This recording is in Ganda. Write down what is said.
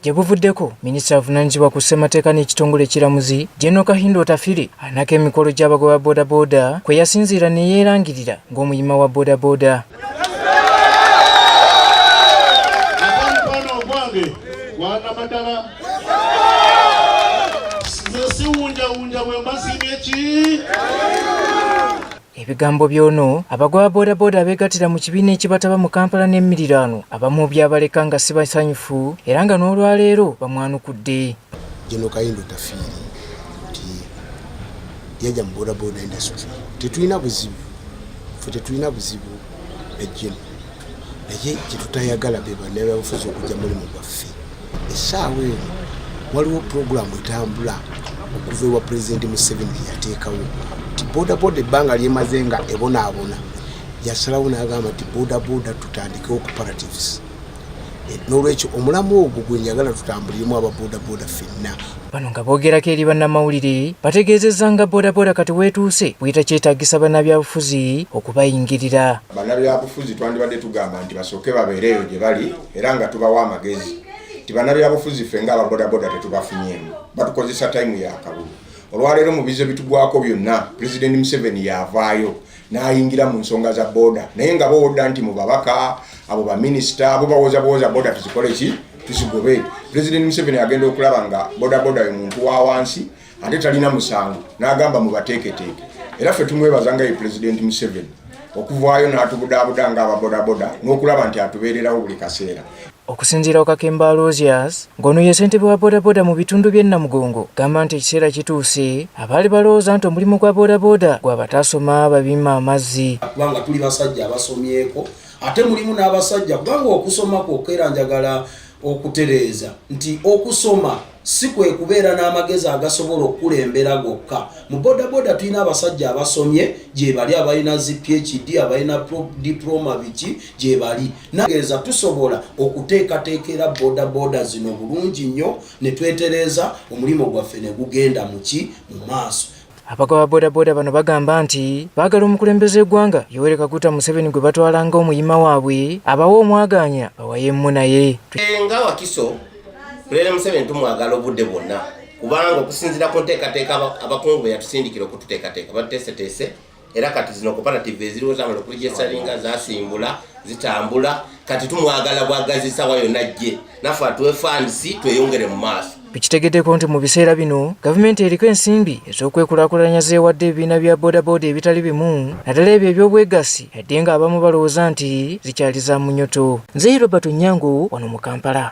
gye buvuddeko minisita avunaanyizibwa ku ssemateeka n'ekitongole ekiramuzi jeno kahindo otafire anako emikolo gy'abagoba bodaboda kwe yasinziira ne yeerangirira ng'omuyima wa bodaboda nze siwunjawunja bwe mbasiimye ki Ebigambo by'ono abagoba bodaboda abeegattira mu kibiina ekibataba mu Kampala n'emiriraano abamu byabaleka nga si basanyufu era nga n'olwaleero bamwanukudde. General Kayindo Tafiiri nti yajja mu bodaboda industry tetulina buzibu fe tetulina buzibu na General naye kyetutayagala be bannabyabufuzi okujja mulimu gwaffe. essaawa eno waliwo pulogulaamu etambula okuva ewa pulezidenti museveni gyeyateekawo nti bodaboda ebbanga lyemaze nga ebonaabona yasalawo n'agamba nti bodaboda tutandike operatives eh, n'olwekyo omulamu ogwo gwe njagala tutambuliremu aba bodaboda fenna bano nga boogerako eri bannamawulire bategeezezza nga bodaboda kati weetuuse buyita kyetaagisa bannabyabufuzi okubayingirira bannabyabufuzi twandibadde tugamba nti basooke babeereeyo gye bali era nga tubawa amagezi nti banabyabufuzi ffe nga ababodaboda tetubafunyemu batukozesa tayimu yakabulu olwaleero mu bizo bitugwako byonna pulezidenti museveni yavaayo nayingira mu nsonga za boda naye nga bowodda nti mu babaka abo baminisita abo bawoza bawoza boda tuzikole ki tuzigobe pulezidenti museveni agenda okulaba nga bodaboda ye muntu wa wansi ate talina musango n'agamba mubateeketeeke era ffe tumwebaza nga ye pulezidenti museveni okuvaayo n'atubudaabuda nga ababodaboda n'okulaba nti atubeererawo buli kaseera okusinziira okakemba alosias ng'ono ye ssentebe wa bodaboda mu bitundu by'e namugongo gamba nti ekiseera kituuse abaali balowooza nti omulimu gwa bodaboda gwa bataasoma babima amazzi kubanga tuli basajja abasomyeko ate mulimu n'abasajja kubanga okusoma kwokka era njagala okutereeza nti okusoma si kwe kubeera n'amagezi agasobola okukulembera gokka mu bodaboda tulina abasajja abasomye gyebali abalina zi phd abalina diploma biki gyebali nageeza tusobola okuteekateekera bodaboda zino bulungi nnyo ne twetereeza omulimu gwaffe ne gugenda muki mu maaso Abagoba bodaboda bano bagamba nti baagala omukulembeze w'eggwanga Yoweri Kaguta Museveni gwe batwala nga omuyima waabwe abawe omwagaanya bawayeemu naye. Nga Wakiso, Pulezidenti Museveni tumwagala obudde bwonna kubanga okusinzira ku nteekateeka abakungu be yatusindikira okututeekateeka batuteeseteese era kati zino koperative eziriwo zamala okulijesalinga zasimbula zitambula kati tumwagala bwagazi sawa yonna jje nafe atuwe funds tweyongere mu maaso tukitegedeko nti mu biseera bino gavumenti eriko ensimbi ez'okwekulakulanya zeewadde ebibiina bya bodaboda ebitali bimu naddala ebyo eby'obwegassi yadde nga abamu balowooza nti zikyali za munyoto nzeyi robert onyango wano mu kampala